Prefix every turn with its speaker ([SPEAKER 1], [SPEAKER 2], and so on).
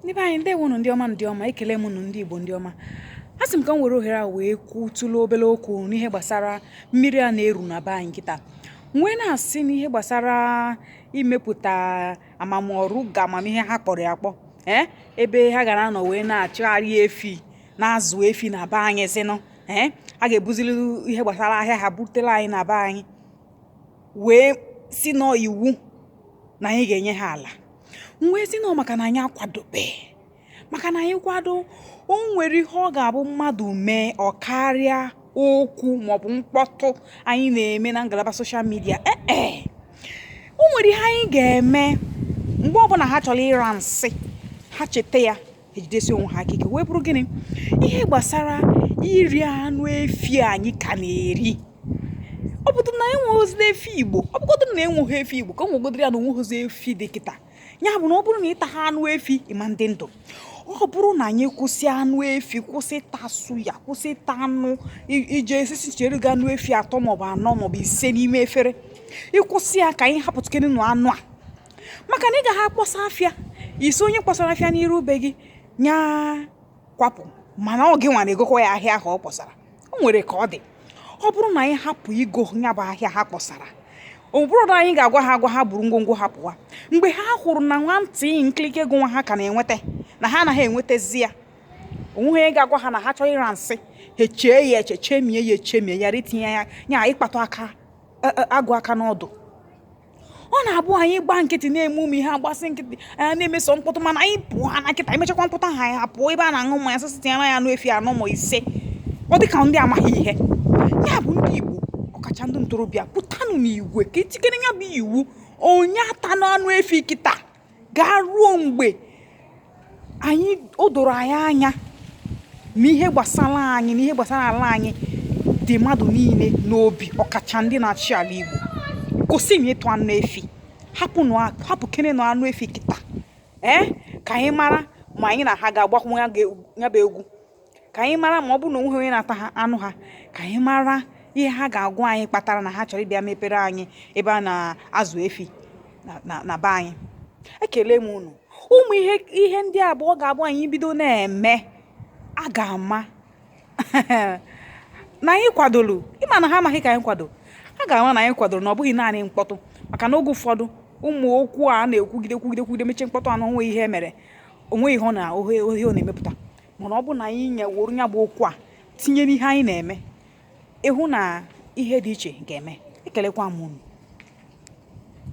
[SPEAKER 1] ndị be anyị ndewonụ ndị ọma ndị ọma ekele m nụ ndị Igbo ndị ọma a sị m ka m were ohere a wee kwụ tụlụ obere okwu n'ihe gbasara mmiri a na-eru na be anyị kịta m wee na-asị n'ihe gbasara imepụta ama m ọ Ruga ama m ihe ha kpọrọ ya akpọ ee eh, ebe ha ga-anọ wee na-achụgharị efi na-azụ efi na be anyị sịnụ ee eh, a ga-ebuzili ihe gbasara ahịa ha butela anyị na be anyị wee sị na ọ iwu na anyị ga-enye ha ala m wee sị na ọ maka na anyị akwadobe maka na anyị kwado o nwere ihe ọ ga-abụ mmadụ mee ọ karịa okwu maọbụ mkpọtụ anyị na-eme na ngalaba social media ee o nwere ihe anyị ga-eme mgbe ọbụla ha chọrọ ịra nsị ha cheta ya ejidesi onwe ha aka ike wee bụrụ gịnị ihe gbasara iri anụ efi anyị ka na-eri ọ bụrụ na enweghịzi efi igbo ọ bụgodụ na enweghị efi igbo ka e wegodịrị ya na onweghịzi efi dị kịta ya bụ na ọ bụrụ na ị taha anụ efi ị ma adị ndụ ọ bụrụ na anyị kwụsị anụ efi kwụsị ịta suya kwụsị ịta anụ i je esisi chere gị anụ efi atọ maọbụ anọ maọbụ ise n'ime efere ị kwụsị ya ka anyị hapụtụkenenụ anụ a maka na ị gaghị akpọsa afịa ị sị onye kpọsara afịa n'iru be gị nya kwapụ mana ọ gịnwa na-egokwa ya ahịa ahụ ọ kpọsara o nwere ka ọ dị ọ bụrụ na anyị hapụ igo ya bụ ahịa ha kpọsara ọ bụrụ na anyị ga-agwa ha agwa ha buru ngwongwo ha pụwa mgbe ha hụrụ na nwantị nkirike ego nwa ha ka na-enweta na ha anaghị enwetazi ya onweghị onye ga-agwa ha na ha chọrọ ịra nsị ha echee ya eche chemie ya echemie ya ritinye ya ya ịkpatụ aka e, e, agụ aka n'ọdụ ọ na-abụ anyị gbaa nkịtị na-eme ụmụ ihe a gbasịa nkịtị anyị na-eme sọ mkpọtụ mana anyị pụọ na kịta anyị mechakwa mkpọtụ a anyị apụọ ebe a na-aṅụ mmanya sị sị tinyere ya anụ efi anọ ma ise ọ dị ka ndị amaghị ihe ya bụ ndị Igbo ọkacha ndị ntorobịa pụtanụ n'igwe ka e tikere ya bụ iwu onye atana anụ efi kịta gaa ruo mgbe anyị o doro anyị anya na ihe gbasara anyị na ihe gbasara ala anyị dị mmadụ niile n'obi ọkacha ndị na-achị ala Igbo kwụsịnụ ịta anụ efi hapụnụ hapụkenenụ anụ efi kịta ee eh? ka anyị mara ma anyị na ha ga-agbakwu ya bụ egwu ka anyị mara ma ọ bụ na onweghị onye na-ata ha anụ ha ka anyị mara ihe ha ga-agwa anyị kpatara na ha chọrọ ịbịa mepere anyị ebe a na-azụ efi na be anyị ekele m unu ụmụ ihe ihe ndị a bụ ọ ga-abụ anyị bido na-eme a ga-ama na anyị kwadoro ị ma na ha amaghị ka anyị kwado a ga-ama na anyị kwadoro na ọ bụghị naanị mkpọtụ maka na oge ụfọdụ ụmụ okwu a na-ekwugide kwugide kwugide mechie mkpọtụ ọnụ onwe ihe e mere onwe ihe ọ na ohe ọ na-emepụta mana ọ bụ na anyị eworo ya bụ okwu a tinye n'ihe anyị na-eme ị hụ na ihe dị iche ga-eme ekelekwa m unu